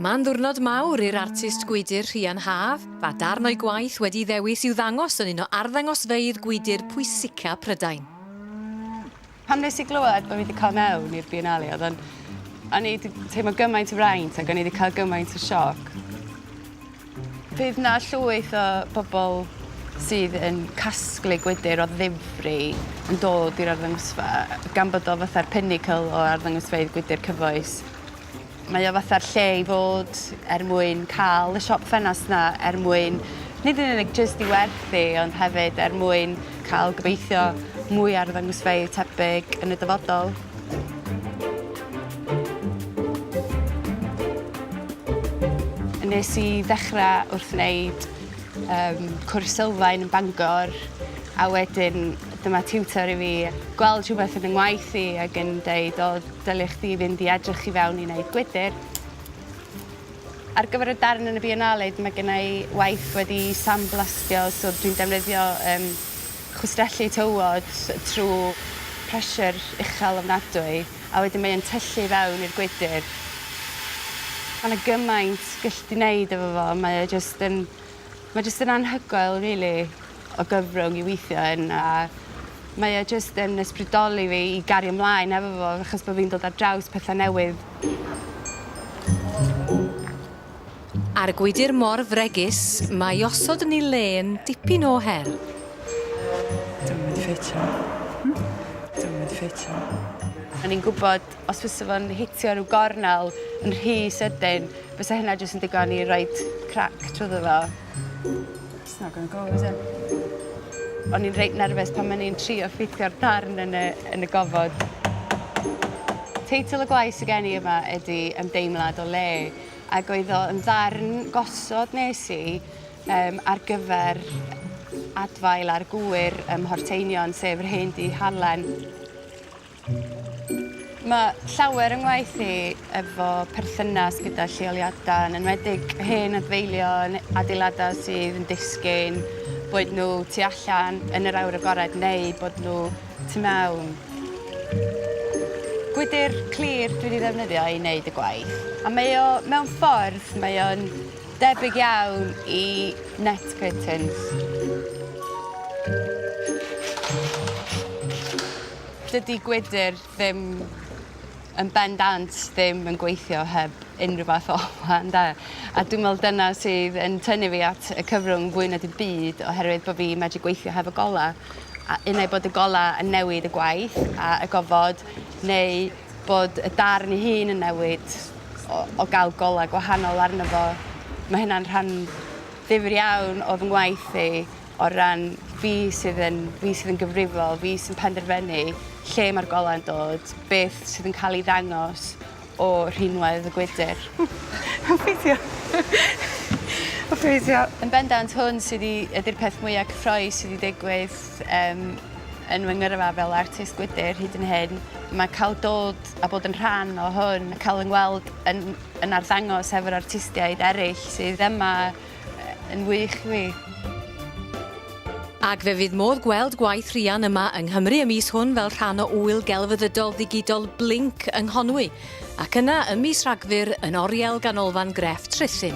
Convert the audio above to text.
Mae'n ddwrnod mawr i'r artist gwydr Rhian Haf, a darn o'i gwaith wedi'i ddewis i'w ddangos yn un o arddangosfeydd gwydr pwysica Prydain. Pan nes i glywed bod fi wedi cael mewn i'r Biennale, oedd o'n... o'n i 'di teimlo gymaint o fraint ac o'n i 'di cael gymaint o sioc. Fydd 'na llwyth o bobl sydd yn casglu gwydr o ddifri yn dod i'r arddangosfa gan bod o fatha'r pinnacle o arddangosfeydd gwydr cyfoes. Mae o fatha'r lle i fod er mwyn cael y siop ffenast 'na er mwyn nid yn unig jyst i werthu ond hefyd er mwyn cael gobeithio mwy o arddangosfeydd tebyg yn y dyfodol. Nes i ddechrau wrth wneud um, cwrs sylfaen yn Bangor a wedyn dyma tiwtor i fi gweld rhywbeth yn y ngwaith i ac yn dweud o dylech chdi fynd i edrych i fewn i wneud gwydr. Ar gyfer y darn yn y Biennale mae gennau waith wedi sandblastio so dwi'n defnyddio um, chwistrellu tywod trwy pressure uchel ofnadwy a wedyn mae e'n tyllu i fewn i'r gwydr. Ma' 'na gymaint gyllt di neud efo fo mae e jyst yn mae jyst yn anhygoel rili o gyfrwng i weithio yn a mae e jyst yn ysbrydoli fi i gario mlaen efo fo achos bo' fi'n dod ar draws pethe newydd. Ar y gwydr mor fregus mae osod ni le yn dipyn o her. Dwi'm yn mynd i ffeitio. Hmm? Dwi'm yn mynd i ffeitio. O'n i'n gwybod os fysa fo'n hitio rhyw gornel yn rhy sydyn, fysa hynna jyst yn digon i roed crac trwyddo fo. It's not gonna go, is it? O'n i'n reit nerfus pan o'n i'n trio ffitio'r darn yn y yn y gofod. Teitl y gwaith sy gen i yma ydi Ymdeimlad o Le. ac oedd o yn ddarn gosod nes i um, ar gyfer adfail ar gwyr ym Mhorteinion, sef yr hen du halen. Mae llawer yng ngwaith i efo perthynas gyda lleoliadau, yn enwedig hen adfeilion, adeiladau sydd yn disgyn, boed nhw tu allan yn yr awyr agored neu bod nhw tu mewn. Gwydr clir dwi 'di ddefnyddio i neud y gwaith a mae o mewn ffordd mae o'n debyg iawn i net curtains. Dydi gwydr ddim yn bendant ddim yn gweithio heb unrhyw fath o olau ynde? A dwi'n me'wl dyna sydd yn tynnu fi at y cyfrwng fwy na dim byd oherwydd bo' fi medru gweithio hefo gola. a un ai bod y golau yn newid y gwaith a y gofod neu bod y darn ei hun yn newid o, o gael golau gwahanol arno fo. Mae hynna'n rhan ddifr iawn o fy ngwaith i o ran fi sydd yn, fi sydd yn gyfrifol, fi sy'n penderfynu lle mae'r golau yn dod, beth sydd yn cael ei ddangos o rhinwedd y gwydr. Mae'n ffeithio. Mae'n ffeithio. Yn bendant hwn sydd i, ydy'r peth mwyaf cyffroes sydd i ddigwydd um, yn fy ngyrfa fel artist gwydr hyd yn hyn. Mae cael dod a bod yn rhan o hwn, cael yng ngweld yn, yn arddangos efo'r artistiaid eraill sydd yma yn wych i fi. Ac fe fydd modd gweld gwaith Rhian yma yng Nghymru y mis hwn fel rhan o ŵyl gelfyddydol ddigidol Blink yng Nghonwy, ac yna ym mis Rhagfyr yn oriel Ganolfan Grefft Rhuthun.